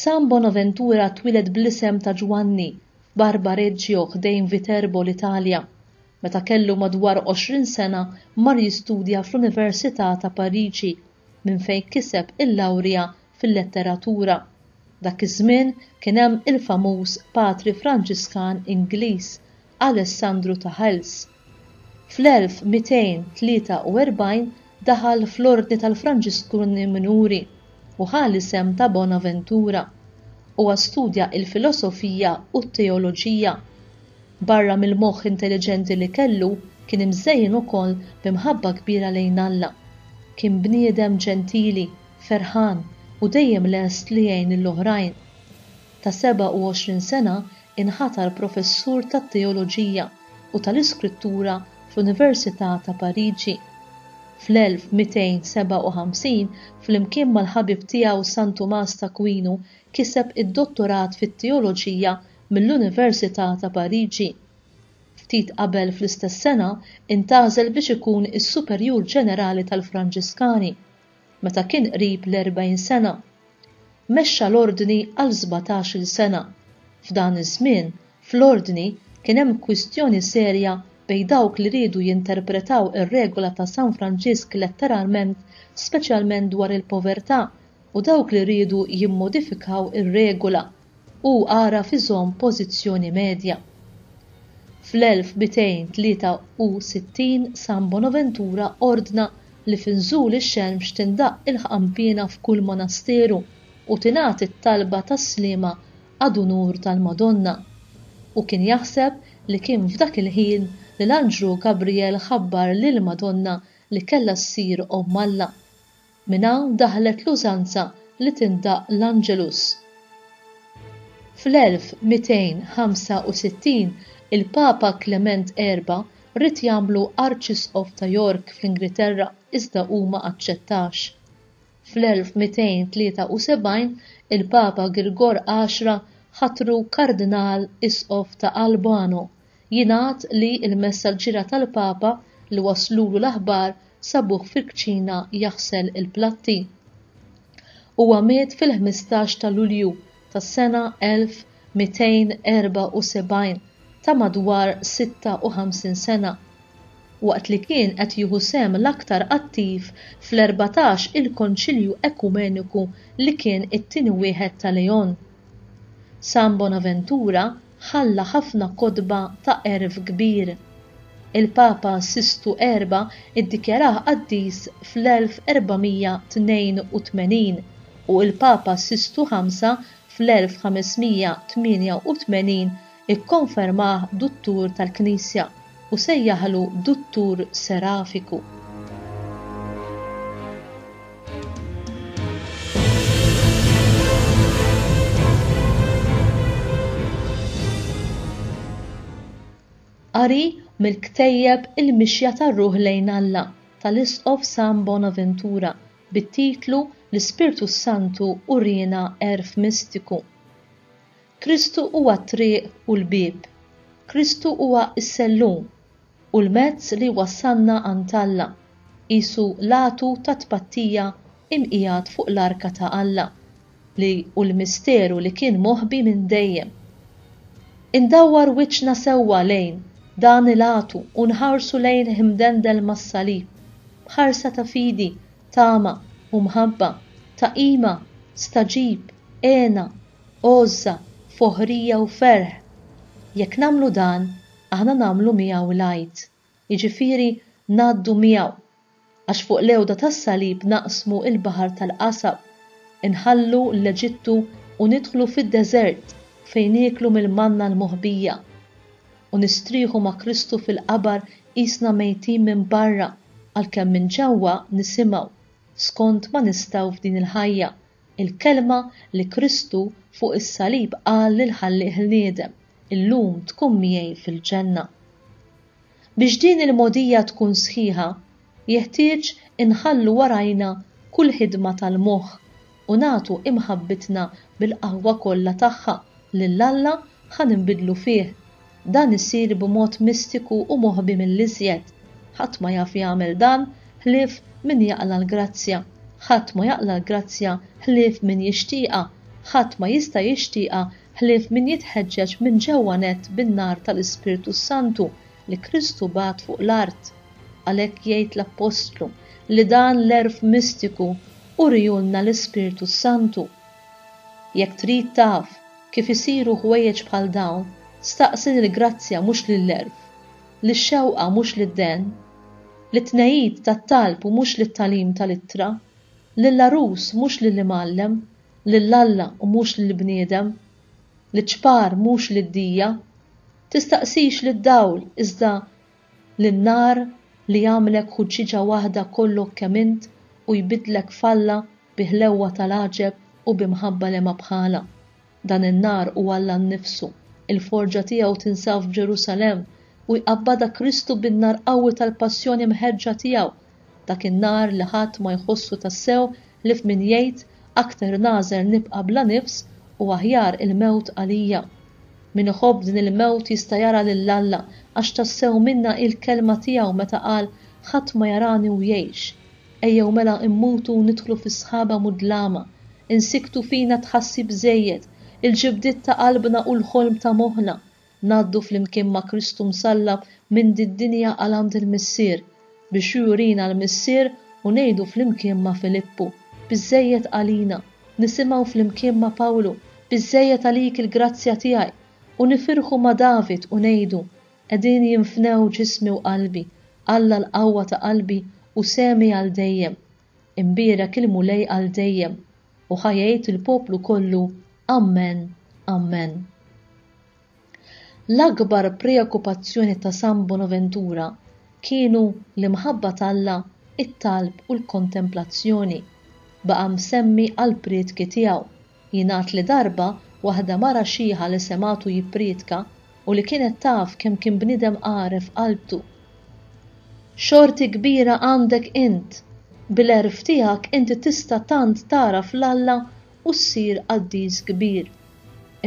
San Bonaventura twieled bl-isem ta' Ġwanni f'Barbareggio ħdejn Viterbo l-Italja. Meta kellu madwar 20 sena mar jistudja fl-Università ta' Pariġi minn fejn kiseb il-lawrja fil-letteratura. Dak iż-żmien kien hemm il-famuż Patri Franġiskan Ingliż Alessandru ta' Hales. Fl-1243 daħal fl-Ordni tal-Franġiskuni Minuri u ħa l-isem ta' Bonaventura. Huwa studja l-filosofija u t-teoloġija. Barra mill-moħħ intelliġenti li kellu, kien imżejjen ukoll bi mħabba kbira lejn Alla. Kien bniedem ġentili, ferħan, u dejjem lest li jgħin lill-oħrajn. Ta' 27 sena inħatar professur tat-teoloġija. u tal-Iskrittura fl-Università ta' Pariġi. Fl-1257, flimkien mal-ħabib tiegħu San Tumas t'Akwinu, kiseb id-dottorat fit-teoloġija mill-Università ta' Pariġi. Ftit qabel fl-istess sena intgħażel biex ikun is-superjur ġenerali tal-Franġiskani. meta kien qrib l-erbgħin sena. Mexxa l-Ordni għal sbatax-il sena. F'dan iż-żmien, fl-Ordni kien hemm kwistjoni serja bejn dawk li riedu jinterpretaw ir-regola ta' San Franġisk letteralment, speċjalment dwar il-povertà, u dawk li riedu jimmodifikaw ir-regola. Hu għaraf iżomm pożizzjoni medja. Fl-1263 San Bonaventura ordna li f'inżul ix-xemx tindaqq il-ħqanpiena f'kull monasteru u tingħad it-talba tas-sliema ad unur tal-Madonna. Hu kien jaħseb li kien f'dak il-ħin li l-anġlu Gabrijel ħabbar lill-Madonna li kellha ssir Omm Alla. Minn hawn daħlet l-użanza li tindaqq l-Angelus. Fl-1265 il-Papa Klement Erba' ried jagħmlu Arċisqof ta' York fl-Ingriterra iżda hu ma aċċettax. Fl-1273 il-Papa Girgor Għaxra ħatru Kardinal Isqof ta' Albano. Jingħad li l-messaġġiera tal-Papa li wasslulu l-aħbar sabuh fil-kċina jaħsel il-platti. Huwa miet fil-ħmistax ta' Lulju tas-sena 1274 ta' madwar 56 sena, waqt li kien qed jieħu sehem l-aktar attiv fl-erbatax il-Konċilju Ekumeniku li kien it-tieni wieħed ta' Leon. San Bonaventura ħalla ħafna kotba ta' għerf kbir. Il-Papa Sistu Erba' ddikjarah qaddis fl-1482 u l-Papa Sistu Ħamsa fl-1588 ikkonfermah duttur tal-Knisja. u sejjaħlu Duttur Serafiku. Qari mill-ktejjeb Il-Mixja tar-Ruħ lejn Alla tal-Isqof Sam Bonaventura bit-titlu L-Ispirtu s-Santu Uriena Għerf Mistiku. Kristu huwa t-triq u l-bieb. Kristu huwa s-sellum u l-mezz li jwassalna għand Alla, qisu l-għatu tat-tpattija imqiegħed fuq l-arka ta' Alla, li hu l-misteru li kien moħbi minn dejjem. Indawwar wiċċna sewwa lejn dan il-għatu u nħarsu lejnih imdendel mas-salib, b'ħarsa ta' fidi, tama, u mħabba, ta' qima, staġib, għena, għożża, foħrija u ferħ. Jekk nagħmlu dan, aħna nagħmlu miegħu l-Għid, jiġifieri ngħaddu miegħu, għax fuq l-għewda tas-salib naqsmu l-baħar tal-qasam, inħallu l-Eġittu u nidħlu fid-deżert fejn nieklu mill-manna l-moħbija, u nistrieħu ma' Kristu fil-qabar qisna mejtin minn barra għalkemm minn ġewwa nisimgħu, skond ma nistgħu f'din il-ħajja. Il-kelma li Kristu fuq is-salib qal lill-Ħallieq Ħniedem, Illum tkun miegħi fil-Ġenna. Biex din il-mogħdija tkun sħiħa, jeħtieġ inħallu warajna kull ħidma tal-moħħ u nagħtu imħabbitna bil-qawwa kollha tagħha lil Alla ħa ninbidlu fih. Dan isir b'mod mistiku u moħbi mill-iżjed. Ħadd ma jaf jagħmel dan ħlief min jaqla' l-grazzja. Ħadd ma jaqla' l-grazzja ħlief min jixtieqha. Ħadd ma jista' jixtieqha ħlief min jitħeġġeġ minn ġewwa nett bin-nar tal-Ispirtu s-Santu li Kristu bagħat fuq l-art. Għalhekk jgħid l-Appostlu li dan l-għerf mistiku uriehulna l-Ispirtu s-Santu. Jekk trid taf Kif isiru ħwejjeġ bħal dawn? Staqsi lill-grazzja mhux lill-għerf, lix-xewqa mhux lid-dehn, lit-tnegħid tat-talb u mhux lit-tagħlim tal-ittra, lill-għarus mhux lill-imgħallem, lil Alla u mhux lill-bniedem, liċ-ċpar mhux lid-dija. Tistaqsix lid-dawl iżda li n-nar li jagħmlek ħuġġieġa waħda kollok kemm int u jbiddlek f'Alla bi ħlewwa tal-għaġeb u bi mħabba li ma bħalha. Dan in-nar hu Alla nnifsu, il-forġa tiegħu tinsab f'Ġerusalemm u jqabbadha Kristu bin-nar qawwi tal-passjoni mħeġġa tiegħu Dak in-nhar li ħadd ma jħossu tassew ħlief min jgħid, Aktar nagħżel nibqa' bla nifs u aħjar il-mewt għalija. Min iħobb din il-mewt jista' jara lil Alla għax tassew minnha hi l-kelma tiegħu meta qal, Ħadd ma jarani u jgħix. Ejjew mela immutu u nidħlu fi sħaba mudlama. Insikktu fina t-tħassib żejjed, il-ġibdiet ta' qalbna u l-ħolm ta' moħħna. Ngħaddu flimkien ma' Kristu msallab minn did-dinja għal għand il-Missier, biex Hu jurina l-Missier u ngħidu flimkien ma' Filippu, Biżżejjed għalina, nisimgħu flimkien ma' Pawlu, Biżżejjed għalik il-grazzja tiegħi, u nifirħu ma' David u ngħidu, Qegħdin jinfnew ġismi u qalbi, Alla l-qawwa ta' qalbi u sehmi għal dejjem. Imbierek il-Mulej għal dejjem. U ħa jgħid il-poplu kollu, Ammen, Ammen. L-akbar preokkupazzjoni ta' San Bonaventura kienu l-imħabba t'Alla, it-talb u l-kontemplazzjoni. Baqa' msemmi għall-prietki tiegħu. Jingħad li darba waħda mara xieħa li semgħetu jipprietka, u li kienet taf kemm kien bniedem għaref qalbtu. Xorti kbira għandek int! Bil-għerf tiegħek inti tista' tant tagħraf 'l Alla u ssir qaddis kbir.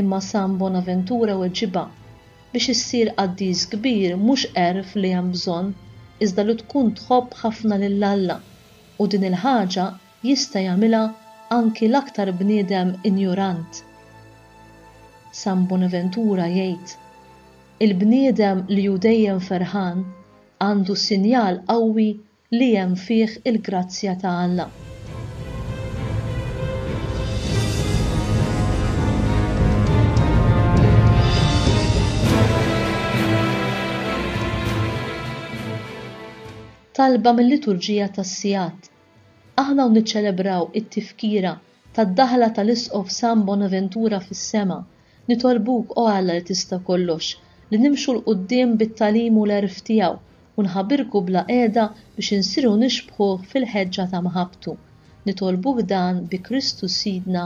Imma San Bonaventura weġibha, Biex issir qaddis kbir mhux għerf li hemm bżonn, iżda li tkun tħobb ħafna lil Alla, u din il-ħaġa Jista' jagħmilha anki l-aktar bniedem injorant. San Bonaventura jgħid, Il-bniedem li hu dejjem ferħan għandu sinjal qawwi li hemm fih il-grazzja ta' Alla. Talba mil-Liturġija tas-Sigħat Aħna hawn niċċelebraw it-tifkira tad-daħla tal-Isqof San Bonaventura fis-sema. Nitolbuk, O Alla li tista' kollox, li nimxu 'l quddiem bit-tagħlim u l-għerf tiegħu u nħabirku bla qiegħda biex insiru nixbħuh fil-ħeġġa ta' mħabbtu. Nitolbuk dan bi Kristu Sidna.